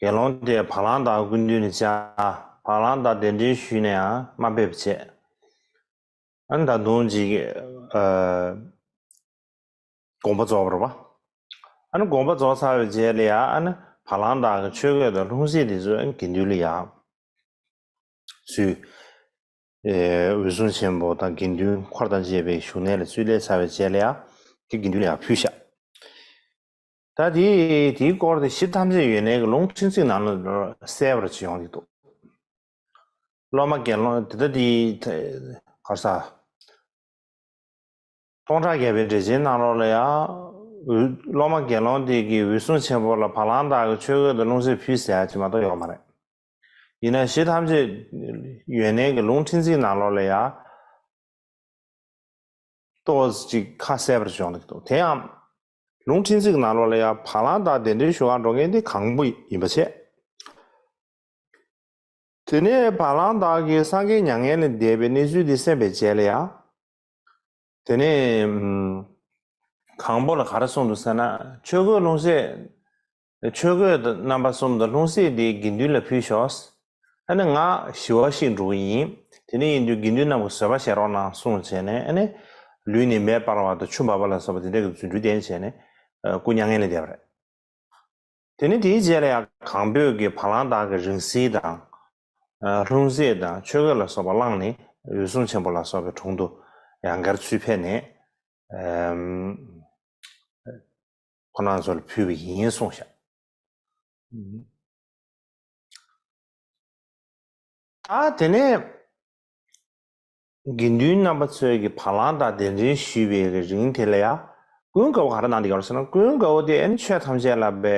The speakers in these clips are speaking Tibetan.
དགེ་སློང་དེས་བ་ལང་དག་ཀུན་འདུས་ནས་བཅའ། བ་ལང་དག་གདན་འདྲེན་ཞུས་ནས་དམའ་འབེབས་བྱས། ད་དུང་དགོངས་པ་རྫོགས་པར་བ། དགོངས་པ་རྫོགས་ཚར་བའི་རྗེས་ལ་ཡང་བ་ལང་དག་གི་ཆོས་གོས་དང་ལྷུང་བཟེད་དེ་ཚོས་དགེ་འདུན་ལ་ཡང་བསུས། འོད་སྲུང་ཆེན་པོ་དང་དགེ་འདུན་འཁོར་དང་བཅས་པའི་བཞུགས་གནས་ལ་ཚུལ་ལས་ཚར་བའི་རྗེས་ལ་ཡང་དེ་དགེ་འདུན་ལ་ཡང་ཕུལ། ཞག་ད་དེ་དེའི་སྐོར་དེ་གཞི་ཐམས་ཅད་ཡོན་ཏན་གྱི་ལུང་ཕྲན་ཚེགས་ནང་ན་གསལ་བར་བྱེད་ཡོང་གི་འདུག་སློབ་མ་དགེ་སློང་དེ་དག་དེའི་གར་ས། སྟོང་ཕྲག་བརྒྱ་པའི་འགྲེལ་ཆེན་གནང་རོགས་ལ་ཡ། སློབ་མ་དགེ་སློང་དེ་གའི་འོད་སྲུང་ཆེན་པོ་ལ་བ་ལང་དག་གི་ཆོས་གོས་དང་ལུང་ཟེར་ཕུལ་ཟེར་ཡ་ཅིག་མ་གཏོགས་ཡོད་མ་རེད། ཡིན་ན་གཞི་ཐམས་ཅད་ཡོན་ཏན་གྱི་ལུང་ཕྲན་ཚེགས་གནང་རོགས་ལ་ཡ། ལྟོས་ཅིག་ཁ་གསལ་བར་བྱེད་ཡོང་གི་འདུག་དེ་ཡང། ལུང་ཕྲན་ཚེགས་ནང་ལོགས་ལ་ཡང་བ་ལང་དང་གདན་འདྲེན་ཞུ་ཁང་འགྲོ་མཁན་དེ་གང་པོ་ཡིན་པ་བྱས། དེ་ནས་བ་ལང་དག་གིས་སངས་རྒྱས་མྱ་ངན་ལས་འདས་པའི་གནས་ཚུལ་དེ་གསན་པའི་རྗེས་ལ་ཡང། དེ་ནས། གང་པོ་ལ་ག་རེ་གསུངས་འདུག་ཟེར་ན་ཆོས་གོས་ལྷུང་བཟེད། ཆོས་གོས་རྣམ་པ་གསུམ་དང་ལྷུང་བཟེད་དེའི་དགེ་འདུན་ལ་ཕུལ་ཞོག། ཨ་ནི་ང་ཞི་བ་ཞིག་འགྲོ་གི་ཡིན། དེ་ནས་ཡིན་དུས་དགེ་འདུན་རྣམས་ཀྱི་བཟོད་པ་བྱེད་རོགས་གནང་གསུངས་བྱས་ནས་ཨ་ནི། ལུས་ནི་མེ་སྤར་བ་དང་ཆུ་འབབ་པ་ལ་སོགས་པ་དེ་འདྲ་གི་རྫུ་འཕྲུལ་ལྡན་བྱས་ནས་སྐུ་མྱ་ངན་ལས་འདས་པ་རེད། དེ་ནས་དེའི་རྗེས་ལ་ཡང་གང་འདོད་ཀྱི་བ་ལང་དག་གི་རིང་བསྲེལ་དང། ལྷུང་བཟེད་དང་ཆོས་གོས་ལ་སོགས་པ་བླངས་ནས་འོད་སྲུང་ཆེན་པོ་ལ་སོགས་པའི་དྲུང་དུ་ཡང་སྒར་ཚུལ་ཕེབས་ནས། ཁོ་ནང་ཚོ་ལ་ཕུལ་བ་ཡིན་ཡིན་གསུངས་ཤག། ཨ་དེ་ནས་དགེ་འདུན་རྣམ་པ་ཚོས་ཀྱི་བ་ལང་དང་གདན་འདྲེན་ཞུས་པའི་གི་རིང་དེ་ལ་ཡ། ཀུན་དགའ་བོ་ག་ར་གནང་འདི་ཡོང་ཟེར་ན་ཀུན་དགའ་བོ་དེ་ཨེ་ཆོས་ཐམས་ཅད་ལ་པའི་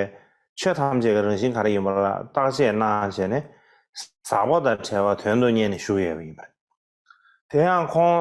ཆོས་ཐམས་ཅད་ཀྱི་རང་བཞིན་ག་ར་ཡིན་པ་ལ་བརྟག་དཔྱད་གནང་བྱས་ནས་ཟག་པ་དང་བྲལ་བ་དོན་དུ་གཉེར་ནས་བཞུགས་ཡོད་པ་ཡིན་པ་རེད། དེ་ཡང་ཁོང།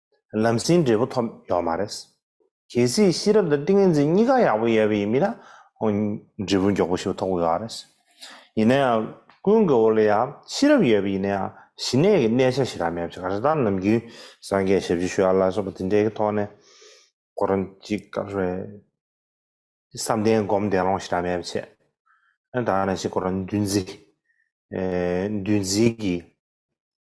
ལམ་སེང་འབྲས་བུ་ཐོབ་ཡོག་མ་རེད། གལ་སྲིད་ཤེས་རབ་དང་ཏིང་ངེ་འཛིན་གཉིས་ཀ་ཡག་པོ་ཡོད་པ་ཡིན་མིན་ན། འབྲས་བུ་མགྱོགས་པོ་ཞིག་ཐོབ་ཡོག་རེད། ཡིན་ན་ཡང་ཀུན་དགའ་བོ་ལ་ཡང་ཤེས་རབ་ཡོད་པ་ཡིན་ན་ཡང་ཞི་གནས་ཀྱི་གནས་ཆ་ཞིག་རག་མེད་པ་ཞིག་ག་རེ་དང་ནམ་རྒྱུན་སངས་རྒྱས་ཞབས་ཕྱི་ཞུ་ཡག་ལ་སོགས་པ་དེ་འདྲའི་གི་ཐོག་ནས་ཁོ་རང་ཅིག་ག་རེ་བསམ་གཏན་སྒོམ་བདེ་སློང་ཞིག་རག་མེད་པ་བྱས། ད་ནས་ཞིག་ཁོ་རང་འདུལ་འཛིན་འདུལ་འཛིན་གྱི།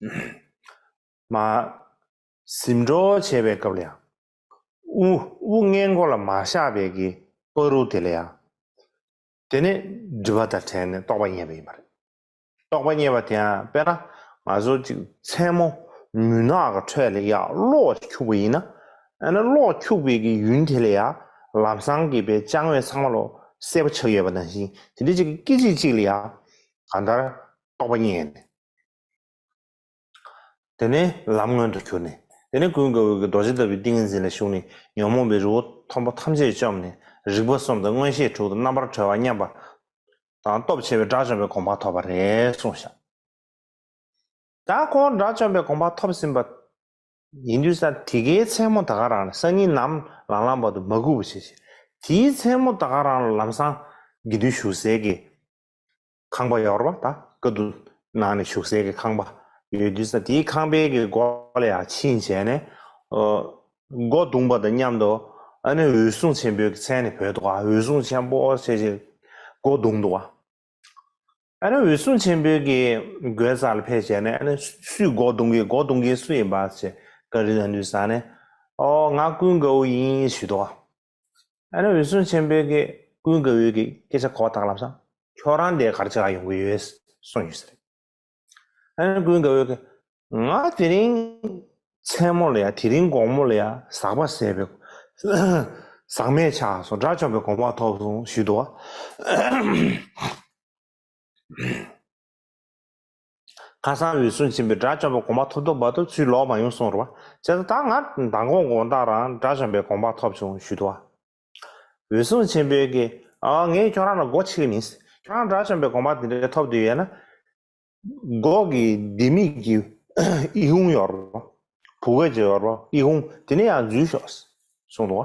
མ། གཟིམས་འགྲོ་བྱེད་པའི་སྐབས་ལ་ཡང། དབུ་དབུ་སྔས་མགོ་ལ་མ་བཞག་པའི་གི་པ་རུ་དེ་ལ་ཡང། དེ་ནི་སྒྲིབ་པ་དང་བྲལ་ནས་རྟོགས་པ་རྙེད་པ་ཡིན་པ་རེད། རྟོགས་པ་རྙེད་པ་དེ་ཡང་དཔེར་ན་ང་ཚོ་ཅིག་མཚན་མོ་མུན་ནག་གི་ཁྲོད་ལ་ཡང་གློག་ཅིག་འཁྱུག་པ་ཡིན་ན། ཨ་ན་གློག་འཁྱུག་པའི་གི་ཡུན་དེ་ལ་ཡང་ལམ་སང་གི་པའི་ལྕང་བའི་ཚང་མ་ལོ་གསལ་པོ་ཆགས་ཡོད་པ་ནང་བཞིན་དེ་འདྲའི་ཅིག་གི་སྐད་ཅིག་ཅིག་ལ་ཡང་གང་ལྟར་རྟོགས་པ་རྙེད་ནས་དེ་ནས་ལམ་མངོན་དུ་གྱུར་ནས། དེ་ནས་ཀུན་དགའ་བོ་དགུ་རྡོ་རྗེ་ལྟ་བུའི་ཏིང་ངེ་འཛིན་ལ་ཞུགས་ནས་ཉོན་མོངས་པའི་རི་བོ་མཐོན་པོ་ཐམས་ཅད་བཅོམ་ནས་རིག་པ་གསུམ་དང་མངོན་ཤེས་དྲུག་དང་རྣམ་པར་གྲོལ་བ་མཉམ་པ་དང་སྟོབས་ཆེ་བའི་དགྲ་བཅོམ་པའི་དགོངས་པ་ཐོབ་པ་རེ་གསུངས་ཤིང། ད་ཁོང་དགྲ་བཅོམ་པའི་དགོངས་པ་ཐོབ་ཟིན་པ་ཡིན་དུས་ས་དེ་ཀའི་མཚན་མོ་ད་ག་རང་ལ་སང་ཉིན་ནམ་ལངས་ལངས་བར་དུ་མ་སྒུག་པར་བྱས་ཤིང་དེའི་མཚན་མོ་ད་ག་རང་ལ་ལམ་སང་དགེ་འདུན་བཞུགས་གསལ་གྱི་ཁང་པ་ཡོར་བ་དང་ཀ་དུ་ནང་ནས་ཞུགས་སའི་གི་ཁང་པ་ཡོད་དུས་ས་དེའི་ཁང་པའི་གི་སྒོ་ལ་ཡང་ཕྱིན་བྱས་ནས། སྒོ་བརྡུངས་པ་དང་མཉམ་དུ་ཨ་ནེ་འོད་སྲུང་ཆེན་པོའི་གི་མཚན་ནས་བོས་འདུག་ཨ་འོད་སྲུང་ཆེན་པོ་ཞེས་ཀྱི་སྒོ་བརྡུངས་འདུག་ཨ་ནེ་འོད་སྲུང་ཆེན་པོའི་གི་སྒོའི་ས་ལ་ཕེབས་བྱས་ནས་ཨ་ནེ་སུས་སྒོ་བརྡུངས་གི་སྒོ་བརྡུངས་མཁན་སུ་ཡིན་པ་ཞེས་ཀ་རི་ན་ནུས་ས་ནས། ཨོ་ང་ཀུན་དགའ་བོ་ཡིན་ཞུས་འདུག་ཨ་ཨ་ནི་འོད་སྲུང་ཆེན་པོའི་གེ། ཀུན་དགའ་བོའི་གེ་སྐད་ཆ་གོ་བ་དག་ལབ་ས། ཁྱོད་རང་དེ་གར་ཆགས་ཡོང་གི་ཡོད། གསུངས་ཡོད་ས་རེད། ཨ་ནི་ཀུན་དགའ་བོའི་གེ། ང་དེ་རིང། མཚན་མོ་ལ་ཡ་དེ་རིང་དགོང་མོ་ལ་ཡ་ཟག་པ་ཟས་པའི། ཟག་མེད་ཆགས་སོང་དགྲ་བཅོམ་པའི་གོམ་བག་ཐོབ་སོང་ཞུས་འདུག་བ། ཁ་སང་འོད་སྲུང་ཆེན་པོས་དགྲ་བཅོམ་པའི་དགོངས་པ་ཐོབ་ཐོབ་འབའ་ཐུབ་ཚུལ་ལོག་མ་ཡོང་གསུངས་རོགས་པ་བྱས་སོ་ད་ང་མདང་དགོང་དགོང་དག་རང་དགྲ་བཅོམ་པའི་དགོངས་པ་ཐོབ་བྱུང་ཞུས་དོ། འོད་སྲུང་ཆེན་པོས་ཀྱི། ཨ་ངས་ཁྱོད་རང་ལ་སྒོ་ཕྱེ་གི་མིན། ཁྱོད་རང་དགྲ་བཅོམ་པའི་དགོངས་པ་འདི་འདྲ་ཐོབ་འདོད་ཡོད་ན། སྒོ་གི་ལྡེ་མིག་གི་ཨི་ཧུང་ཡོར་རོ། བུ་གོས་ཀྱི་ཡོར་རོ་ཨི་ཧུང་དེ་ནས་ཡང་འཛུལ་ཤོག། གསུངས་ཏོ།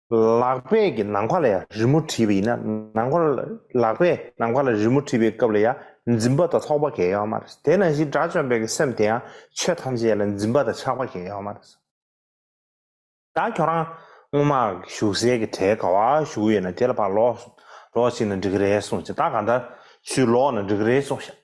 ལག་པས་ཀྱི་ནང་མཁའ་ལ་ཡང་རི་མོ་བྲིས་པ་ཡིན་ན་ནང་མཁའ་ལག་པས་ནང་མཁའ་ལ་རི་མོ་བྲིས་པའི་སྐབས་ལ་ཡང་འཛིན་པ་དང་ཐོགས་པ་འགལ་ཡོད་མ་རེད། དེས་ན་གཞི་དགྲ་བཅོམ་པའི་སེམས་དེ་ཡང་ཆོས་ཐམས་ཅད་ལ་འཛིན་པ་དང་ཆགས་པ་འགལ་ཡོད་མ་རེད། ད་ཁྱོད་རང་སྔོན་མ་བཞུགས་སའི་གི་གྲལ་ག་བ་བཞུགས་ཡོད་ན་དེ་ལ་ཕར་ལོག་ལོག་ཅིག་ན་འགྲིག་གི་རེད་གསུངས་ཅིག་ད་ག་འདྲ་ཞུས་ལོག་ན་འགྲིག་གི་རེད་གསུངས་ཤག།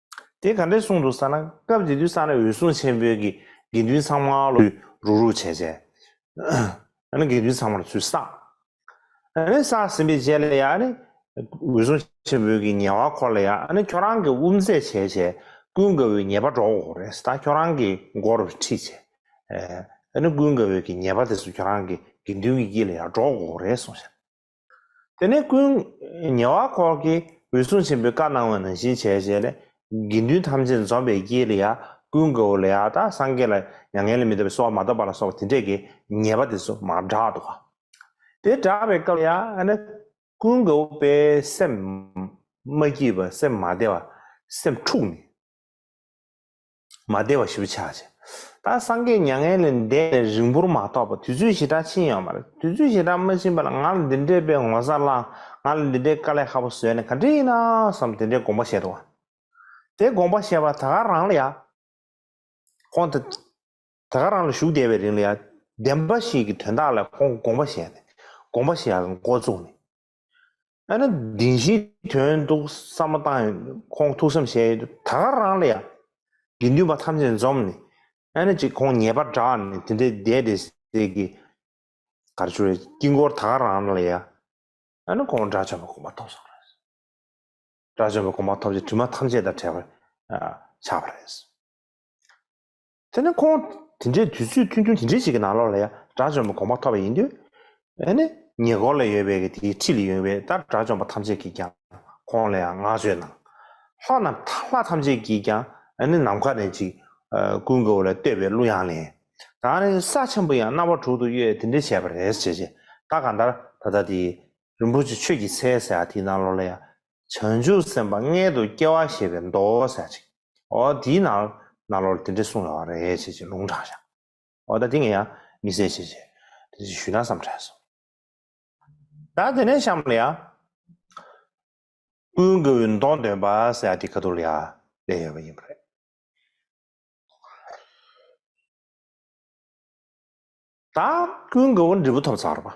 དེ་ག་འདྲའི་གསུང་འདུག་ས་ན་སྐབས་དེ་དུས་ས་རཱའི་འོད་སྲུང་ཆེན་པོའི་གི་དགེ་འདུན་ཚང་མ་ལོ་ཡུ་རུག་རུག་བྱས་བྱས། ཡང་ན་དགེ་འདུན་ཚང་མར་ཚུལ་བསགས། ཡང་ན་བསགས་ཟིན་པའི་རྗེས་ལ་ཡང་ནི། འོད་སྲུང་ཆེན་པོའི་གི་ཉེ་བ་འཁོར་ལ་ཡང་ནི་ཁྱོད་རང་གི་དབུ་མཛད་བྱས་བྱས། ཀུན་དགའ་བོའི་ཉེ་བ་འགྲོ་འོ་རེས་ད་ཁྱོད་རང་གི་མགོ་རུ་ཁྲིད་བྱས། ཡང་ན་ཀུན་དགའ་བོའི་གི་ཉེ་བ་དེ་སུ་ཁྱོད་རང་གི་དགེ་འདུན་གི་དཀྱིལ་ལ་ཡང་འགྲོ་འོ་རེས་སོང་ཞེ་ན། དེ་ནས་ཀུན། ཉེ་བ་འཁོར་གྱི་འོད་སྲུང་ཆེན་པོའི་བཀའ་གནང་བ་ནང་བཞིན་བྱས་བྱས་ལས། དགེ་འདུན་ཐམས་ཅད་འཛོམ་པའི་དཀྱིལ་ལ་ཡང་ཀུན་དགའ་བོ་ལས་ཨ་སྟག་སངས་རྒྱས་ལ་མྱ་ངན་ལས་མི་ཐོབ་པའི་གསོལ་བ་མ་བཏབ་པ་ལ་སོགས་དེ་འཕྲལ་གྱི་ཉེས་པ་དེ་ཚོ་མ་བསྒྲགས་དོ། དེ་བསྒྲགས་པའི་སྐབས་ལ་ཡང། ཀུན་དགའ་བོ་དཔལ་སེམས་མ་སྐྱིད་པ་སེམས་མ་བདེ་བ་སེམས་འཁྲུགས་ནས། མ་བདེ་བ་ཞིབ་ཆགས་བྱེད། ད་སངས་རྒྱས་མྱ་ངན་ལས་འདས་ནས་རིང་པོར་མ་ཐོགས་པར་དུས་ཚོད་ཞེ་དྲག་ཕྱིན་ཡོང་བ་རེད་དུས་ཚོད་ཞེ་དྲག་མ་ཕྱིན་པ་ལ་ང་ལ་འདི་འདྲའི་དཔེ་ངོ་ས་བླངས་ང་ལ་འདི་འདྲའི་དཀའ་ལས་ཧ་པོ་བཟོས་ནས་ག་འདྲི་ཡིན་ནམ་བསམ་དེ་འདྲའི་དགོངས་པ་བཞེས་འདུག་ཨང། དེ་དགོངས་པ་བཞེས་པ་ད་ག་རང་ལ་ཡང། ཁོང་དེ་ག་རང་ལ་བཞུགས་བསྡད་པའི་རིང་ལ་ཡང་བདེན་པ་ཞིག་གི་དོན་དག་ལ་ཁོང་དགོངས་པ་བཞེས་ནས་དགོངས་པ་བཞེས་ཀྱང་མགོ་བཙུགས་ནས་ཨ་ནི་དེ་བཞིན་དོན་འདུག་བསམ་མ་བཏང་ཡོད་ཁོང་ཐུགས་བསམ་བཞེས་ཡོད་ད་ག་རང་ལ་ཡང། དགེ་འདུན་པ་ཐམས་ཅད་འཛོམས་ནས་ཨ་ནི་ཅིག་ཁོང་ཉེས་པར་གྲགས་ནས་དེ་འདྲའི་བསྡད་དེ་ཟེར་གི། གར་ཆུ་རའི་དཀྱིལ་འཁོར་ད་ག་རང་ལ་ཡང། ཨ་ནི་ཁོང་དགྲ་བཅོམ་པའི་གོ་མ་ཐོབ་སོང་རེད། དགྲ་བཅོམ་པའི་གོ་མ་ཐོབ་ཅེས་དྲི་མ་ཐམས་ཅད་དང་བྲལ་བར་ཆགས་པ་རེད། དེ་ནི་ཁོང་དེ་འདྲའི་དུས་ཚོད་ཐུང་ཐུང་དེ་འདྲའི་ཞིག་གི་ནང་ལོགས་ལ་ཡང་དགྲ་བཅོམ་པའི་དགོངས་པ་ཐོབ་པ་ཡིན་དུས། ཨ་ནི་ཉེ་འཁོར་ལ་ཡོད་པའི་དེའི་ཁྲི་ལ་ཡོང་བའི་ལྟར་དགྲ་བཅོམ་པ་ཐམས་ཅད་ཀྱིས་ཀྱང་ཁོང་ལ་ཡང་བསྔགས་བརྗོད་གནང། ལྷ་རྣམས་ལྷ་ཐམས་ཅད་ཀྱིས་ཀྱང་ཨ་ནི་ནམ་མཁའ་ནས་ཅིག། ཀུན་དགའ་བོ་ལ་བསྟོད་པའི་གླུ་དབྱངས་ལེན། ད་ནི་ས་ཆེན་པོ་ཡང་རྣ་བ་དྲུག་ཏུ་གཡོས་དེ་འདྲས་བྱས་པ་རེད། ཅེས་བྱས། ད་གང་ལྟར་ད་ལྟ་དེ། རིན་པོ་ཆེ་ཆོས་ཀྱི་ཚལ་ཟེར་ཡ་དེའི་ནང་ལོགས་ལ་ཡང་བྱང་ཆུབ་སེམས་དཔའ་མངལ་དུ་སྐྱེ་བ་ཞེས་པའི་མདོ་གསལ་ཅིག། འོ་དེའི་ནང་ན་ལོར་དེ་འདྲས་གསུངས་ཡོད་བ་རེད་ཅེས་ཀྱི་ལུང་དྲངས་ཤག། འོ་ད་དེ་ངས་ཡང་མི་གསལ་ཅེས་ཀྱི་དེ་ཞུས་ན་བསམ་དྲན་སོང། ད་དེ་ནས་གཤམ་ལ་ཡང། ཀུན་དགའ་བོའི་མདོ་འདོན་པ་ཟེར་ཡག་དེ་ག་དུར་ལ་ཡང་སླེབས་ཡོད་པ་ཡིན་པ་རེད། ད་ཀུན་དགའ་བོ་འབྲས་བུ་ཐོབ་ཚར་བ།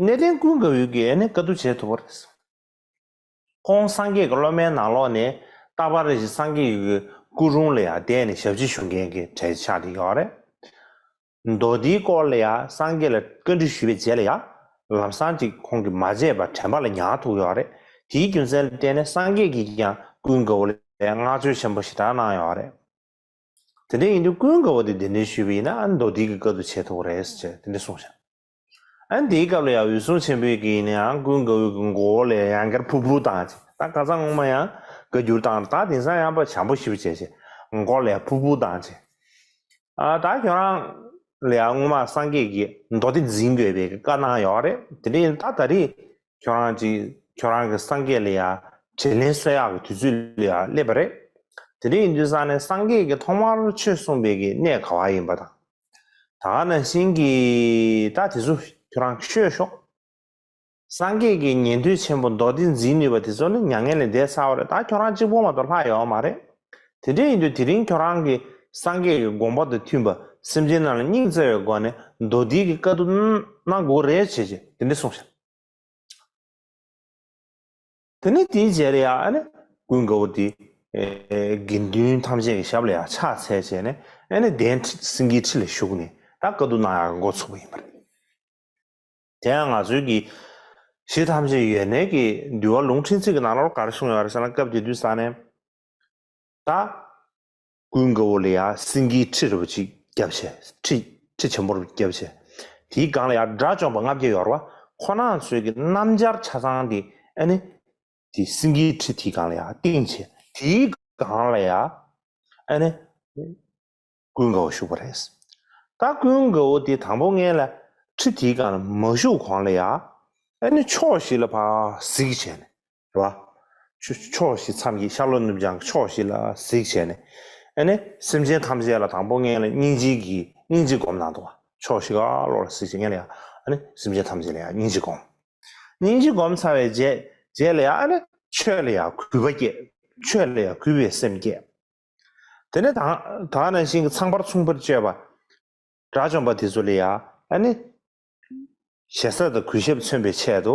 གནས་བརྟན་ཀུན་དགའ་བོའི་དགེ་བསྙེན་དཀའ་བསྡུ་བྱེད་ཐུབ་པ་རེད། ཁོང་སངས་རྒྱས་ཀྱི་སློབ་མའི་ནང་ལོགས་ནས་རྟག་པར་རེ་ཞིག་སངས་རྒྱས་ཀྱི་སྐུ་རུང་ལ་ཡང་བསྡད་ནས་ཞབས་ཕྱི་ཞུ་མཁན་གྱི་གྲས་ཆགས་བསྡད་ཡོད་རེད། མདོ་སྡེའི་སྐོར་ལ་ཡང་སངས་རྒྱས་ལ་བཀའ་འདྲི་ཞུས་པའི་རྗེས་ལ་ཡང་ལམ་སང་ཅིག་ཁོང་གིས་མ་བརྗེད་པར་དྲན་པ་ལ་མྱངས་ཐུབ་ཡོད་རེད། དེའི་རྒྱུ་མཚན་ལ་བརྟེན་ནས་སངས་རྒྱས་ཀྱིས་ཀྱང་ཀུན་དགའ་བོ་ལ་བསྔགས་བརྗོད་ཆེན་པོ་ཞེ་དྲག་གནང་ཡོད་རེད། དེ་འདྲ་ཡིན་དུས་ཀུན་དགའ་བོ་དེ་དེ་འདྲ་ཞུས་པ་ཡིན་ན་མདོ་སྡེ་ཀྱི་དཀའ་བསྡུ་བྱེད་ཐུབ་པ་རེད་ཅེས་དེ་འདྲ་གསུངས་བཞག། ཨ་འདིའི་སྐབས་ལ་ཡང་འོད་སྲུང་ཆེན་པོའི་གིས་ནི་ཨང་ཀུན་དགའ་བོའི་གི་མགོ་བོ་ལས་ཡང་བསྐྱར་ཕུར་ཕུར་བཏང་ཅིག་ད་བཀའ་ཚང་སྔོན་མ་ཡང་བཀའ་བསྒྱུར་བཏང་ད་དེང་སང་ཡང་བ་བྱམས་པོ་ཞིབ་བྱས་ཞེས་མགོ་ལས་ཕུར་ཕུར་བཏང་ཅིག་ཨ་ད་ཁྱོད་རང་ལ་ཡང་སྔོན་མ་སངས་རྒྱས་ཀྱི་མདོ་སྡེ་འཛིན་དགོས་པའི་གི་བཀའ་གནང་ཡོད་རེད་དེ་འདྲའི་ད་ད་རེས་ཁྱོད་རང་ཅིག་ཁྱོད་རང་གི་སངས་རྒྱས་ལ་ཡང་དྲིས་ལན་གསོལ་ཡག་གི་དུས་ཚོད་ལ་ཡང་སླེབས་པ་རེད་དེ་འདྲ་ཡིན་དུས་སང་ནས་སངས་རྒྱས་ཀྱི་ཐོག་མར་ཆོས་གསུངས་པའི་གི་གནས་ག་བ་ཡིན་པ་དང། ད་ག་ནས་ཟིན་གི་ད་དེ་ཚོ་ཁྱོད་རང་ཤོད་ཤོག། སངས་རྒྱས་ཀྱི་ཉན་ཐོས་ཆེན་པོ་མདོ་སྡེ་འཛིན་ནུས་པ་དེ་ཚོ་ནི་མྱ་ངན་ལས་འདས་ཚར་བ་རེད་ད་ཁྱོད་རང་གཅིག་པོ་མ་གཏོགས་ལྷག་ཡོད་མ་རེད། དེ་འདྲས་ཡིན་དུས་དེ་རིང་ཁྱོད་རང་གི་སངས་རྒྱས་ཀྱི་དགོངས་པ་དང་མཐུན་པ་སེམས་ཅན་རྣམས་ལ་སྙིང་བརྩེ་བའི་སྒོ་ནས་མདོ་སྡེ་གི་བཀའ་བསྡུ་གནང་དགོས་རེད་ཅེས་དེ་འདྲས་གསུངས་ཤག། དེ་ནས་དེའི་རྗེས་ལ་ཡང་ཀུན་དགའ་བོ་དེས་དགེ་འདུན་ཐམས་ཅད་ཀྱི་ཞབས་ལ་ཡང་ཕྱག་འཚལ་བྱས་ནས་གདན་སེང་གེའི་ཁྲི་ལ་བཞུགས་ནས་ད་བཀའ་བསྡུ་གནང་ཡག་མགོ་ཚུགས་པ་ཡིན་པ་རེད། དེ་ཡང་ང་ཚོའི་གི་གཞི་ཐམས་ཅད་ཡོན་གནས་ཀྱི་འདུལ་བ་ལུང་ཕྲན་ཚིག་གི་ནང་ལོར་ག་རེ་གསུངས་ཡོད་རེད་ཟེར་ན་སྐབས་དེ་དུས་ས་ནས་ད་སྐུའི་མགོ་བོ་ལ་ཡང་སེང་གེའི་ཁྲི་རིལ་བ་གཅིག་བརྒྱབ། ཁྲི་ཆེན་པོར་བརྒྱབ། དེའི་སྒང་ལ་ཡང་དགྲ་བཅོམ་པ་ལྔ་བརྒྱ་ཡོར་བ་ཁོ་ན་ཚོས་ཀྱི་སྣམ་སྦྱར་ཆ་ཚང་དེ་ནི། དེའི་སེང་གེའི་ཁྲི་དེའི་སྒང་ལ་ཡང་སྟེང་ཆེ། དེའི་སྒང་ལ་ཡང་ནི། སྐུའི་མགོ་བོ་བཞུགས་པ་རེད། ད་སྐུའི་མགོ་བོ་དེ་དང་པོ་ལྔའི་ལ་ཁྲི་དེའི་སྒང་ལ་མ་བཞུགས་གོང་ལ་ཡང་ནི་ཕྱོགས་བཞི་ལ་བར་གཟིགས་བྱས་ནས། བ། ཕྱོགས་བཞི་མཚམས་ཀྱི་ཤར་ལྷོ་ནུབ་བྱང་ཕྱོགས་བཞི་ལ་གཟིགས་བྱས་ནས། ནི། སེམས་ཅན་ཐམས་ཅད་ལ་དང་པོ་སྔས་ལ་སྙིང་རྗེ་གྱིས་སྙིང་རྗེ་བསྒོམ་ནང་དུ་བ། ཕྱོགས་བཞི་ཀ་ལོགས་ལ་གཟིགས་བྱས་ལ་ཡང། ནི། སེམས་ཅན་ཐམས་ཅད་ལ་ཡང་སྙིང་རྗེ་བསྒོམ། སྙིང་རྗེ་བསྒོམ་ཚར་བའི་རྗེས་ལ་ཡང། ནི། ཆོས་ལ་ཡང་གུས་པ་བསྐྱེད། ཆོས་ལ་ཡང་གུས་པའི་སེམས་བསྐྱེད། དེ་ནས་དག། དག་ན་ཤིང་གི་ཚངས་པར་མཚུངས་པར་སྤྱོད་པ། དགྲ་བཅོམ་པ་དེ་ཚོ་ལ་ཡང། ནི། ཞེ་ས་དང་གུས་ཞབས་མཚོན་པའི་ཆེད་དུ།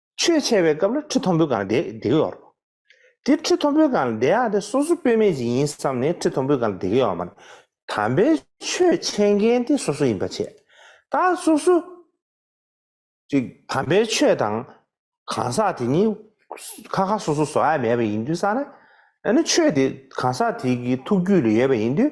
ཆོས་འཆད་པའི་སྐབས་ལ་ཁྲི་མཐོན་པོའི་སྒང་ལ་བསྡད་གི་ཡོད་རེད། དེ་ཁྲི་མཐོན་པོའི་སྒང་ལ་བསྡད་ཡག་དེ་སོ་སོ་དཔེ་མེད་ཅིག་ཡིན་བསམ་ནས་ཁྲི་མཐོན་པོའི་སྒང་ལ་བསྡད་གི་ཡོད་མ་རེད། དམ་པའི་ཆོས་འཆད་མཁན་དེ་སོ་སོ་ཡིན་པ་བྱས། ད་སོ་སོ་ཅིག་དམ་པའི་ཆོས་དང་གང་ཟག་དེ་གཉིས་ཁ་ཁ་སོ་སོ་བཟོ་ཡ་མེད་པ་ཡིན་དུས་ས་ན། ཡང་ན་ཆོས་དེ་གང་ཟག་དེ་གི་ཐུགས་རྒྱུད་ལ་ཡོད་པ་ཡིན་དུས་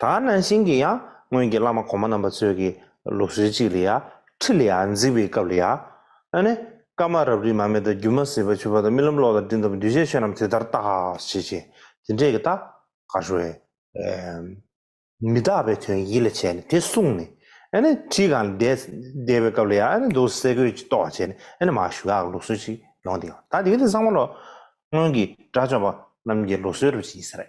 ད་ནང་བཞིན་གྱི་ཡང་སྔོན་གྱི་བླ་མ་གོང་མ་རྣམ་པ་ཚོས་ཀྱི་ལུགས་སྲོལ་གཅིག་ལ་ཡང་ཁྲི་ལ་ཡང་འཛིག་པའི་སྐབས་ལ་ཡང། ཨ་ནི། སྐར་མ་རབ་རིབ་མ་མེ་དང་རྒྱུ་མ་ཟིལ་བ་ཆུ་བ་དང་རྨི་ལམ་གློག་དང་སྤྲིན་དང་འདུས་བྱས་ཆོས་རྣམས་དེ་ལྟར་རྟག་བྱེད་ཅིང་དེ་འདྲས་ཀྱི་རྟག། ག་ཧྲུ་ཨེ། མི་རྟག་པའི་དོན་ཡིད་ལ་བྱས་ནས་དེ་བསྲུངས་ནས། ཨ་ནི། ཁྲིའི་གང་ལ་བསྡད་པའི་སྐབས་ལ་ཡང་ཨ་ནི་འདུག་སེ་གོས་ཀྱིས་བཏོགས་བྱས་ནས་ཨ་ནི་མ་ཞུ་ག་གི་ལུགས་སྲོལ་ཅིག་ཡོང་སྟེ་ཡང་ད་དེ་ག་དེ་སངས་མ་ལོ། སྔོན་གྱི་དགྲ་བཅོམ་པ་རྣམས་ཀྱི་ལུགས་སྲོལ་རུ་བྱས་ཟེར།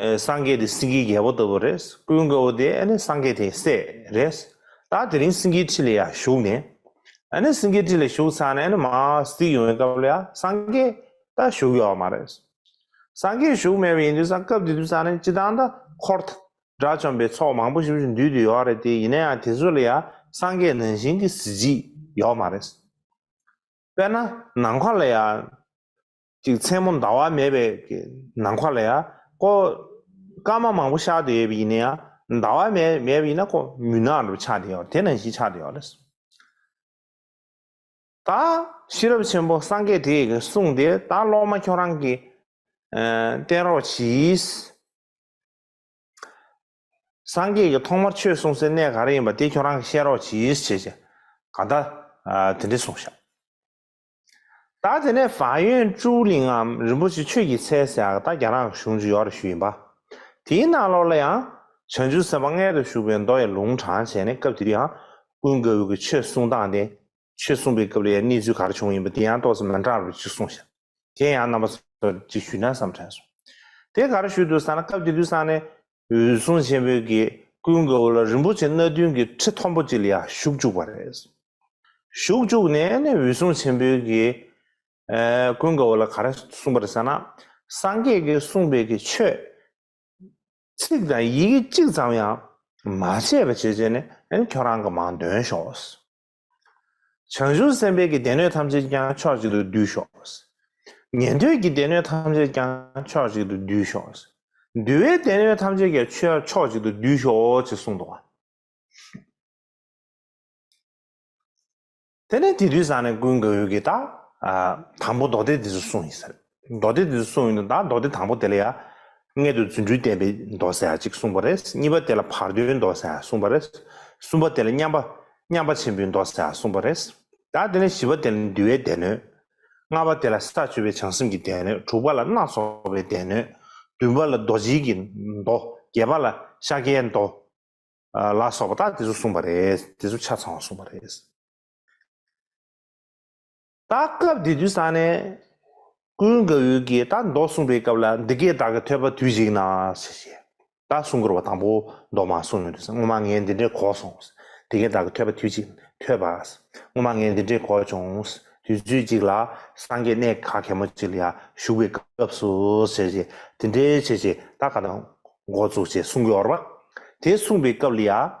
སངས་རྒྱས་དེ་སེང་གེའི་རྒྱལ་པོ་ལྟ་བུ་རེད། སྐུའི་མགོན་པོ་དེ་ནི་སངས་རྒྱས་དེའི་སྲས་རེད། ད་དེ་རིང་སེང་གེའི་ཁྲི་ལ་ཡར་ཞུགས་ནས། སེང་གེའི་ཁྲི་ལ་ཞུགས་ཚར་ནས་མར་གཟིགས་ཡོང་བའི་སྐབས་ལ་ཡང་སངས་རྒྱས་ད་བཞུགས་ཡོད་བ་མ་རེད། སངས་རྒྱས་བཞུགས་མེད་པ་ཡིན་དུས་སང་སྐབས་དེ་དུས་སང་ནས་སྤྱི་བཏང་ད་འཁོར། དགྲ་བཅོམ་པའི་ཚོགས་མང་པོ་ཞིག་འདུས་དུས་ཡོད་བ་རེད་དེ་ཡིན་ན་ཡང་དེ་ཚོ་ལ་ཡང་སངས་རྒྱས་ནང་བཞིན་གྱི་གཟི་བརྗིད་ཡོད་བ་མ་རེད། དཔེར་ན་ནམ་མཁའ་ལ་ཡང། ཅིག་མཚན་མོ་ཟླ་བ་མེད་པའི་ནང་ཁོག་ལ་ཡ། ཀོ། སྐར་མ་མང་པོ་ཤར་དུ་ཡོད་པ་ཡིན་ན་ཡ། ཟླ་བ་མེད་མེད་པ་ཡིན་ན་ཀོ། མུན་ནག་རུ་ཆགས་དེ་ཡོད་དེ་ནང་བཞིན་ཆགས་དེ་ཡོད་ལས། ད། ཤེས་རབ་ཆེན་པོ་སངས་རྒྱས་དེས་གསུངས་ཏེ་ད་སློབ་མ་ཁྱོད་རང་གིས། བསྟེན་རོགས་གྱིས། སངས་རྒྱས་ཀྱིས་ཐོག་མར་ཆོས་གསུང་སའི་གནས་ག་རེ་ཡིན་པ་དེ་ཁྱོད་རང་གིས་བཤད་རོགས་གྱིས། ཞེས་བྱས། ག་ད། དེ་འདྲས་གསུངས་ཤག། ད་དེ་ནས་བ་ཡོན་ཀྲུའུ་གླིང་ངམ་རིན་པོ་ཆེ་ཆོས་ཀྱི་ཚལ་ཟེར་ཡག་ད་རྒྱ་ནག་གཞུང་ཅུ་ཡོག་རེ་ཞུ་ཡིན་པ། དེའི་ནང་ལོགས་ལ་ཡང་བྱང་ཆུ་ཟེར་བ་མངལ་དུ་ཞུགས་པའི་མདོ་ཡི་ལུང་དྲང་བྱས་ནས་སྐབས་དེ་དུས་ཡང་ཀུན་དགའ་བོའི་ཆོས་གསུང་སྟངས་དེ་ཆོས་གསུང་པའི་སྐབས་ལ་ཡང་གནས་ཚུལ་ག་རེ་བྱུང་ཡིན་པ་དེ་ཡང་ཏོག་ཙེ་མན་ཏྲ་རུ་གཅིག་གསུང་ཞིག་དེ་ཡང་རྣམ་པ་ཚོར་གཅིག་ཞུས་ན་བསམ་དྲན་སོང་དེ་ག་རེ་ཞུས་འདུག་ས་ན་སྐབས་དེ་དུས་སང་ནས་འོད་སྲུང་ཆེན་པོའི་གེགས་ཀུན་དགའ་བོ་ལ་རིན་པོ་ཆེ་སྣ་བདུན་གྱི་ཁྲི་མཐོན་པོ་གཅིག་ལ་ཡང་ཞུགས་བཅུག་པ་རེད། ཞུགས་བཅུག་ནས་ནི་འོད་སྲུང་ཆེན་པོའི་གེགས་ཀུན་དགའ་བོ་ལ་ག་རེ་གསུངས་པ་རེད་ཟེར་ན། སངས་རྒྱས་ཀྱིས་གསུངས་པའི་གི་ཆོས། ཚིག་དང་ཡི་གེ་གཅིག་ཙམ་ཡང་མ་ཆད་པ་བྱེད་བྱེད་ནས་ཁྱོད་རང་གི་མང་འདོན་ཤོག། བྱང་ཆུབ་སེམས་དཔའི་གྱི་སྡེ་སྣོད་ཐམས་ཅད་ཀྱང་ཕྱོགས་གཅིག་ཏུ་འདུས་ཤོག། ཉན་ཐོས་ཀྱི་སྡེ་སྣོད་ཐམས་ཅད་ཀྱང་ཕྱོགས་གཅིག་ཏུ་འདུས་ཤོག། འདུལ་བའི་སྡེ་སྣོད་ཐམས་ཅད་ཀྱང་ཆོས་ཕྱོགས་གཅིག་ཏུ་འདུས་ཤོག་ཅེས་གསུངས་ཏོ། དེ་ནས་དེ་དུས་བཟང་ནས་ཀུན་དགའ་བོས་ཀྱི་དང། དང་པོ་མདོ་སྡེ་འདི་ཚོ་གསུངས་ཡིན་ཟེར། མདོ་སྡེ་འདི་ཚོ་གསུངས་ཡོད་དོ་ད་མདོ་སྡེ་དང་པོ་དེ་ལ་ཡང། མངལ་དུ་རྫུ་འཕྲུལ་བསྟན་པའི་མདོ་ཟེར་བ་གཅིག་གསུངས་པ་རེད་གཉིས་པ་དེ་ལ་བར་དོའི་མདོ་ཟེར་བ་གསུངས་པ་རེད། གསུམ་པ་དེ་ལ་མཉམ་པ་མཉམ་པ་ཆེན་པོའི་མདོ་ཟེར་བ་གསུངས་པ་རེད། ད་དེ་ནས་བཞི་བ་དེ་ལ་འདུལ་བའི་སྡེ་སྣོད། ལྔ་བ་དེ་ལ་ས་བཅུ་པའི་བྱང་སེམས་ཀྱི་སྡེ་སྣོད་དྲུག་པ་ལ་སྣ་ཚོགས་པའི་སྡེ་སྣོད། བདུན་པ་ལ་རྡོ་རྗེ་ཀྱི་མདོ་བརྒྱད་པ་ལ་ཤཱཀྱའི་མདོ། ལ་སོགས་པ་དག་དེ་ཚོ་གསུངས་པ་རེད་དེ་ཚོ་ཆ་ཚང་བ་གསུངས་པ་རེད། ད་སྐབས་འདི་དུས་སང་ནས། ཀུན་དགའ་བོའི་གིས་ད་མདོ་གསུངས་པའི་སྐབས་ལ་འདི་སྐད་བདག་གི་ཐོས་པ་དུས་ཞིག་ན། ད་གསུང་འཁོར་བ་དང་པོ་མདོ་མ་གསུངས་མོད་དུས་སང་སྔོན་མ་ངས་འདི་འདྲའི་གོ་སོང། འདི་སྐད་བདག་གི་ཐོས་པ་དུས་ཅིག་ཐོས་པ། སྔོན་མ་ངས་འདི་འདྲའི་གོ་བྱུང། དུས་ཚོད་ཅིག་ལ་སངས་རྒྱས་གནས་ག་གེ་མོ་ཅིག་ལ་ཡང་བཞུགས་པའི་སྐབས་སུ། དེ་འདྲའི་བྱས་ཅིག་ད་ག་ད་འགོ་བཙུགས་ཅེས་གསུང་གི་འོར་བ། དེ་གསུངས་པའི་སྐབས་ལ་ཡང།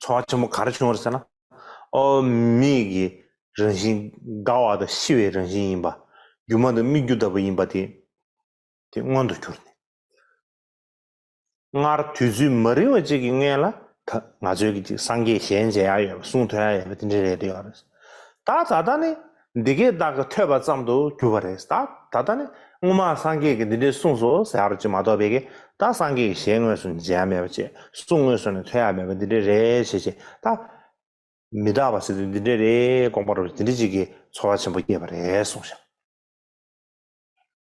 ཚོར་བ་ཆེན་པོ་ག་རེ་བྱུང་བར་ཟེར་ན། ཨོ། མིག་གི་རང་བཞིན་དགའ་བ་དང་ཤི་བའི་རང་བཞིན་ཡིན་པ། སྒྱུ་མ་དང་སྨིག་སྒྱུ་ལྟ་བུ་ཡིན་པ་དེ་དེ་མངོན་དུ་གྱུར་ནས། སྔར་དུས་ཚོད་མ་རིང་བ་ཅིག་གི་སྔས་ལ་ད་ང་ཚོའི་གི་ཅིག་སངས་རྒྱས་གཞན་མཇལ་ཡ་ཡོད་པ་གསུང་ཐོན་ཡ་ཡོད་པ་དེ་འདྲའི་རེད་འདོད་ཡོད་རེད། ད་ད་ལྟ་ནི་འདི་སྐད་བདག་གིས་ཐོས་པ་ཙམ་དུ་གྱུར་པ་རེད་ད་ད་ལྟ་ནི་སྔོན་མ་སངས་རྒྱས་ཀྱིས་འདི་འདྲའི་གསུངས་སོ་ཟེར་ཡག་རོ་ཅིག་མ་གཏོགས་བད་ཀན་ད་སངས་རྒྱས་ཀྱིས་ཞལ་དངོས་སུ་མཇལ་ཡ་མེད་པ་ཅེས་གསུངས་དངོས་སུ་ནི་ཐོས་ཡ་མེད་པ་འདི་འདྲའི་རེད་བྱས་བྱས་ད། མི་རྟག་པ་ཟེར་དུས་འདི་འདྲའི་རེད་དགོངས་པ་རུ་དེ་འདྲི་ཅིག་གིས་ཚོར་བ་ཆེན་པོ་སྐྱེས་པ་རེད་གསུངས་ཤིང།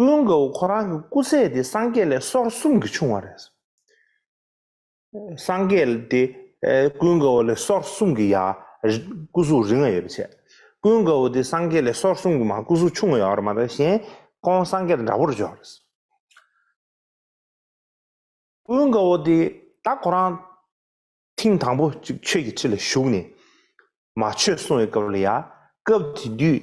སྐུ་ཡོན་ག་བུ་ཁོ་རང་གི་སྐུ་ཚད་དེ་སངས་རྒྱས་ལས་སོར་གསུམ་གྱིས་ཆུང་བ་རེད། སངས་རྒྱས་དེ་སྐུ་ཡོན་ག་བུ་ལས་སོར་གསུམ་གྱི་ཡར་སྐུ་གཟུགས་རིང་བ་ཡོད་པ་བྱས། སྐུ་ཡོན་ག་བུ་དེ་སངས་རྒྱས་ལས་སོར་གསུམ་གྱི་མར་སྐུ་གཟུགས་ཆུང་བ་ཡོད་རེད་མ་གཏོགས་གཞན་ཁོང་སངས་རྒྱས་དང་འདྲ་པོར་འཇོག་རེད། སྐུ་ཡོན་ག་བུ་དེ་ད་ཁོ་རང་ཐེངས་དང་པོ་གཅིག་ཆོས་ཀྱི་ཁྲི་ལ་བཞུགས་ནས་མ་ཆོས་གསུང་བའི་སྐབས་ལ་ཡར་སྐབས་དེ་དུས་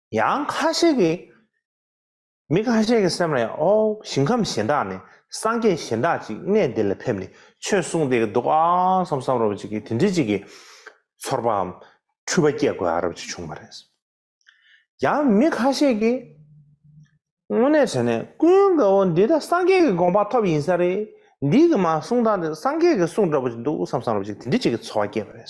ཡང་ཁ་ཤས་ཀྱིས། མི་ཁ་ཤས་ཀྱི་སེམས་ལ་ཡང་ཨོ། ཞིང་ཁམས་གཞན་དག་ནས་སངས་རྒྱས་གཞན་དག་ཅིག་གནས་འདི་ལ་ཕེབས་ནས་ཆོས་གསུངས་བསྡད་ཀྱི་འདུག་ཨ། བསམ་བསམ་རོ་ཅིག་གིས་དེ་འདྲི་ཅིག་གིས། ཚོར་བའམ། འཁྲུལ་པ་བསྐྱེད་དགོས་ཨ་རབ་ཅིག་བྱུང་བ་རེད། ཡང་མི་ཁ་ཤས་ཀྱིས། དངོས་གནས་བྱས་ནས་ཀུན་དགའ་བོ་འདི་ད་སངས་རྒྱས་ཀྱི་དགོངས་པ་ཐོབ་ཡིན་ས་རེད། འདི་གི་མ་གསུངས་སྟངས་དེ་སངས་རྒྱས་ཀྱི་གསུངས་འདྲ་པོ་ཅིག་འདུག་བསམ་བསམ་རོ་ཅིག་དེ་འདྲི་ཅིག་གིས་ཚོར་བ་བསྐྱེད་པ་རེད།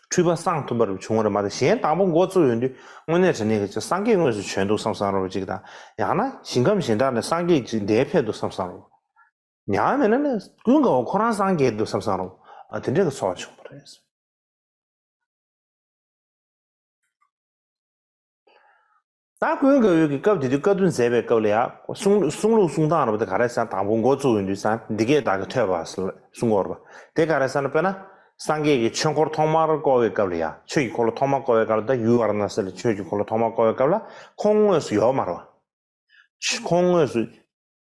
འཁྲུལ་པ་སངས་ཐུབ་པར་བྱུང་བར་མ་ཟད་གཞན་དང་པོ་འགོ་བཙུགས་ཡོང་དུས་དངོས་གནས་དྲན་ནས་ཀྱི་ཅིག་སངས་རྒྱས་དངོས་སུ་བྱོན་འདུག་བསམ་བསམ་རོགས་ཅིག་དང་ཡང་ན་ཞིང་ཁམས་གཞན་དག་ནས་སངས་རྒྱས་ཅིག་འདས་ཕེབས་འདུག་བསམ་བསམ་རོགས། ཡང་མེད་ན་ནི་ཀུན་དགའ་བོ་ཁོ་རང་སངས་རྒྱས་འདུག་བསམ་བསམ་རོགས། དེ་འདྲའི་གི་ཚོར་བ་བྱུང་བ་རེད། སྟ་གོན་དགའ་འོས་ཀྱི་སྐབས་དེ་དུས་བཀའ་བསྡུ་མཛད་པའི་སྐབས་ལ་ཡང་གསུང་གསུང་ལུགས་གསུང་སྟངས་རབ་དེ་ག་རེ་ས་དང་པོ་འགོ་བཙུགས་ཡོད་དུས་སང་འདི་སྐད་བདག་གིས་ཐོས་པ་ལ་གསུང་གོ་རོ། དེ་ག་རེ་ས་ན་དཔེར་ན། སངས་རྒྱས་ཀྱི་ཆོས་འཁོར་ཐོག་མར་བསྐོར་བའི་སྐབས་ལ་ཡང་ཆོས་ཀྱི་འཁོར་ལོ་ཐོག་མར་བསྐོར་བའི་སྐབས་ལ་དང་ཡུལ་བར་ན་སི་ལ་ཆོས་ཀྱི་འཁོར་ལོ་ཐོག་མར་བསྐོར་བའི་སྐབས་ལ་ཁོང་དངོས་སུ་ཡོད་མ་རེད། ཁོང་དངོས་སུ།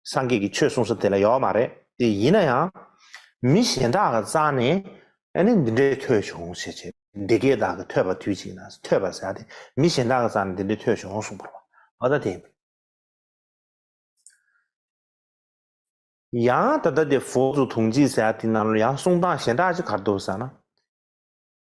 སངས་རྒྱས་ཀྱི་ཆོས་གསུང་ས་དེ་ལ་ཡོད་མ་རེད་དེ་ཡིན་ན་ཡང། མི་གཞན་དག་གི་རྩ་ནས་ནི་འདི་འདྲའི་ཐོས་བྱུང་ཞེས་བྱས་འདི་སྐད་བདག་གིས་ཐོས་པ་དུས་གཅིག་ན་ཐོས་པ་ཟེར་ཏེ་མི་གཞན་དག་གི་རྩ་ནས་འདི་འདྲའི་ཐོས་བྱུང་གསུངས་པར་བ་ད་དེ་ཡང་ད་ད་དེ་ཧྥོ་ཛུ་དུང་ཅི་ཟེར་དེ་ན་ཡང་གསུང་སྟངས་གཞན་དག་ཅི་གར་འདུག་ཟེར་ན།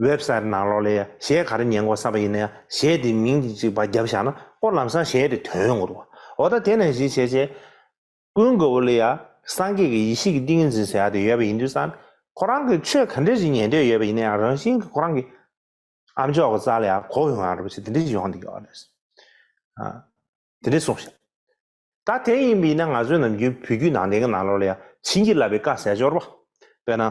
ཝེབ་སཱེ་རི་ནང་ལོགས་ལས་གཞས་ག་རེ་ཉན་དགོས་བསམ་པ་ཡིན་ན་ཡང་གཞས་དེའི་མིང་དེ་གཅིག་བར་རྒྱབ་བཞག་ན་སྐོར་ལམ་སང་གཞས་དེ་དོན་ཡོང་གི་འདུག་འོ་ད་དེ་ནས་གཞི་བྱས་རྗེས། ཀུན་དགའ་བོ་ལ་ཡང་སངས་རྒྱས་ཀྱི་ཡེ་ཤེས་ཀྱི་ཏིང་ངེ་འཛིན་ཟེར་བ་དེ་ཡོད་པ་ཡིན་དུས་སང་ཁོ་རང་གིས་ཆོས་ག་འདྲས་ཞིག་ཉན་འདོད་ཡོད་པ་ཡིན་ན་ཡང་རང་བཞིན་གྱིས་ཁོ་རང་གི་ཨ་མཆོག་གི་རྩ་ལ་ཡང་གོ་ཡོང་ཡང་རེད་པ་ཞིག་དེ་འདྲས་ཞིག་ཡོང་འདུག་གི་རེད། དེ་འདྲས་སོང་ཞིག་ད་དེ་ཡིན་པ་ཡིན་ན་ང་ཚོའི་ནམ་རྒྱུན་བོད་བརྒྱུད་ནང་བསྟན་གྱི་ནང་ལོགས་ལ་ཡང་བྱིན་གྱིས་བརླབས་པའི་བཀའ་ཟས་སྦྱོར་བ་དཔེར་ན།